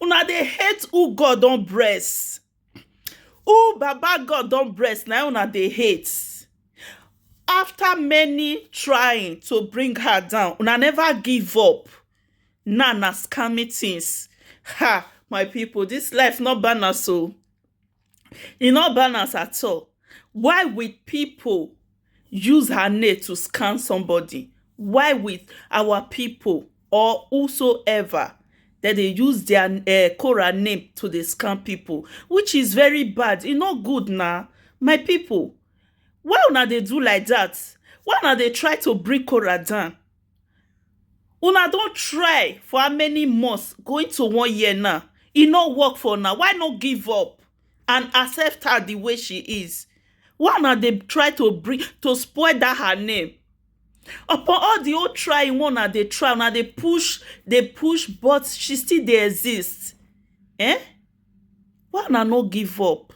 una dey hate who god don bless who baba god don bless na una dey hate after many trying to bring her down una never give up now na scamming things ha my people this life no balance o. e no balance at all why will pipu use her name to scam somebody why will our pipu or who so ever dem dey use their um Korah name to dey scam pipu which is very bad e no good na my pipu why una dey do like dat why una dey try to bring Korah down Una don try for how many months going to one year now e no work for una why no give up and accept her the way she is why una dey try to bring to spoil that her name upon all the whole trying wey una dey try una dey push dey push but she still dey exist um why una no give up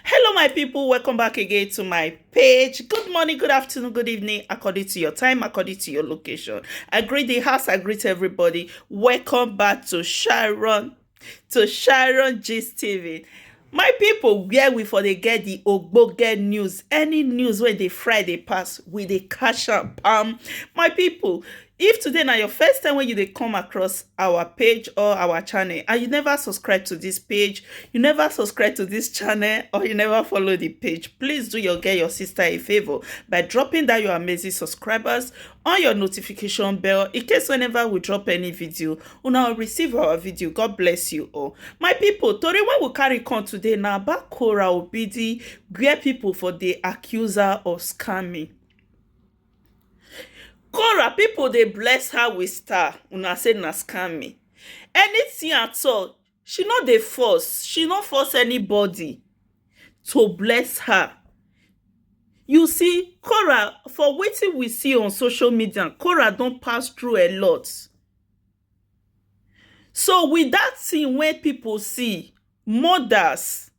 hello my people welcome back again to my page good morning good afternoon good evening according to your time according to your location i greet the house i greet everybody welcome back to sharon to sharon gist tv my people, where we for dey get di ogbonge news any news wey dey friday pass we dey catch am pam my people, If today na your first time when you dey come across our page or our channel and you never subscribe to this page, you never subscribe to this channel or you never follow the page, please do your girl, your sister a favor by dropping that your amazing subscribers on your notification bell in case whenever we drop any video, una will receive our video. God bless you all. My people, Tori when we carry come today now about Kora Obidi, where people for the accuser of scamming. Kora pipu dey bless her with star una say na scamming anything at all she no dey force she no force anybody to bless her you see Kora for wetin we see on social media Kora don pass through a lot so with that thing wey pipu see mothers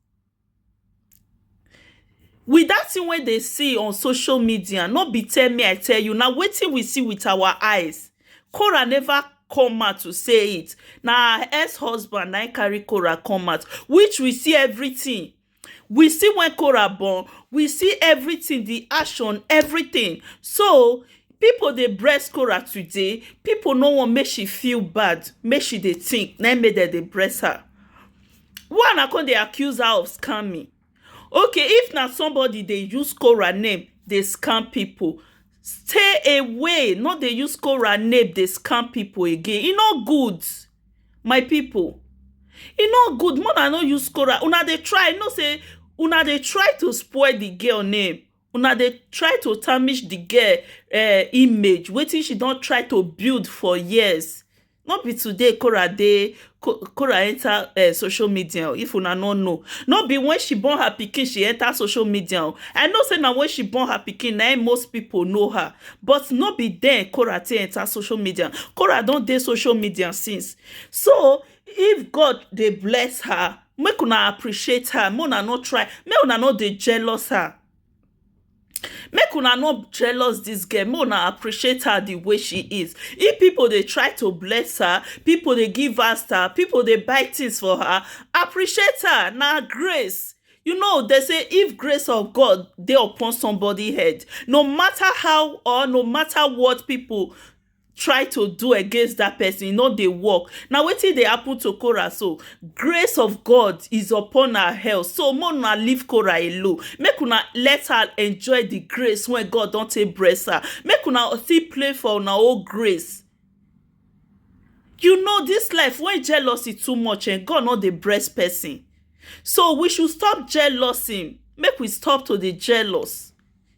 With that thing wey dey see on social media no be tell me I tell you na wetin we see with our eyes Korah never come out to say it na her ex husband na him carry Korah come out which we see everything we see when Korah born we see everything the action everything so people dey bress Korah today people no want make she feel bad make she dey think na him make dem dey bress her why una come dey accuse her of scamming okay if na somebody dey use Cora name dey scam people stay away no dey use Cora name dey scam people again e no good my people e no good make una no use Cora una dey try no say una dey try to spoil the girl name Una dey try to tarnish di girl um image, wetin she don try to build for years. No be today Korah dey Korah enter um social media oh, if una no know. No be when she born her pikin she enter social media oh. I know say na when she born her pikin na im most pipu know her. But no be den Korah take enter social media. Korah don dey social media since. So, if God dey bless her, make una appreciate her make una no try make una no dey jealous her make una no jealous this girl make una appreciate her the way she is if people dey try to bless her people dey give her star people dey buy things for her appreciate her na grace you know they say if grace of god dey upon somebody head no matter how or no matter what people try to do against that person, e no dey work. Na wetin dey happen to Korah so. Grace of God is upon her health. So make una leave Korah alone. Make una let her enjoy the grace wey God don take bless her. Make una still pray for una own grace. You know this life when jealousy too much eh, God no dey bless person. So we should stop jealousy. Make we stop to dey jealous.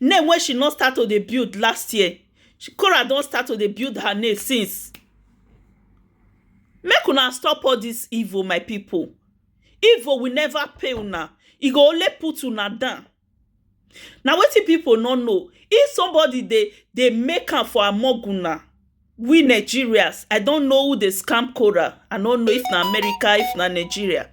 Name wey she no start to dey build last year, Korah don start to dey build her name since. Make una stop all dis evil my pipu. Evil will never pay una, e go only put una down. Na wetin pipu no know, if somebody dey dey make am for among una, we Nigerians, I don't know who dey scam Cora. I no know if na America, if na Nigeria.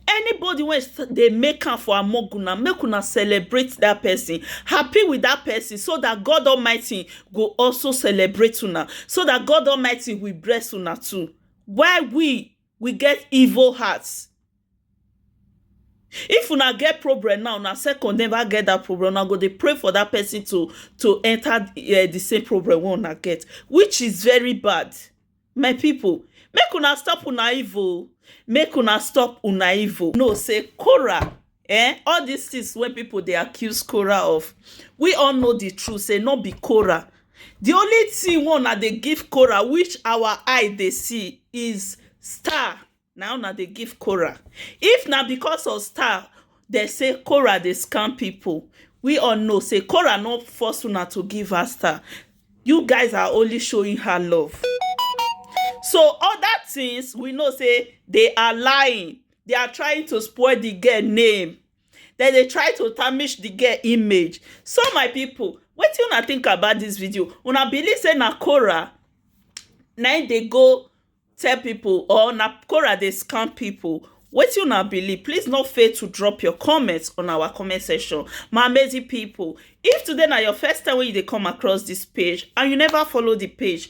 Anybody wey s- dey make am for Amoguna, make una celebrate that person. Happy with that person so that God Almighty go also celebrate una. So that God Almighty will bless una too. Why we we get evil hearts if una get problem now una second never get that problem una go dey pray for that person to to enter uh, the same problem wey una get which is very bad my people make una stop una evil make una stop una evil know say korah um all dis tins wey pipu dey accuse Korah of we all know di truth sey no be Korah di only tin wey una dey give Korah which our eye dey see is star na una dey give Korah if na because of star dey say Korah dey scam pipu we all know sey Korah no force una to give her star you guys are only showing her love so oda tins we know sey dey are lying. they are trying to spoil the girl name then they try to tarnish the girl image so my people wetin una think about this video una believe say na Cora na im dey go tell people or na Cora dey scam people wetin una believe please no fail to drop your comments on our comment section my amazing people if today na your first time wey you dey come across this page and you never follow the page